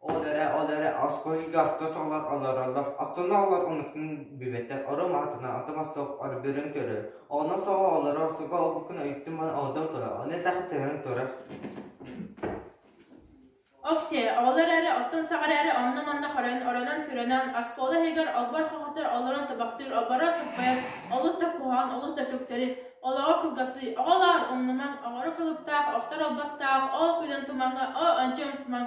Ол эрэ, ол эрэ оскуоһуйга охтос олор олороллор, оттонно олор омукпун билбэттэр, ором аатынан оттом оссох оргөрөн көрөр, оҕоно соҕо олоро охсуга обуккун өйүттүм ман оҕотон тура, ону этэх тэһэн тура. Окси, оҕолор эрэ оттон саҕара эрэ онно-манна хорон, оронон көрөнөн, оскуола иһигэр олбор хоҕотор олорон табахтыыр, олборо сыппайан, олус да куһаҕан, олус да төктэри, олоҕо кылгатыы, оҕолоор умнумаҥ, оҕоро кылыптаах, охтор албастаах, ол күнүн тумаҥы, о ончи ымсымаҥ.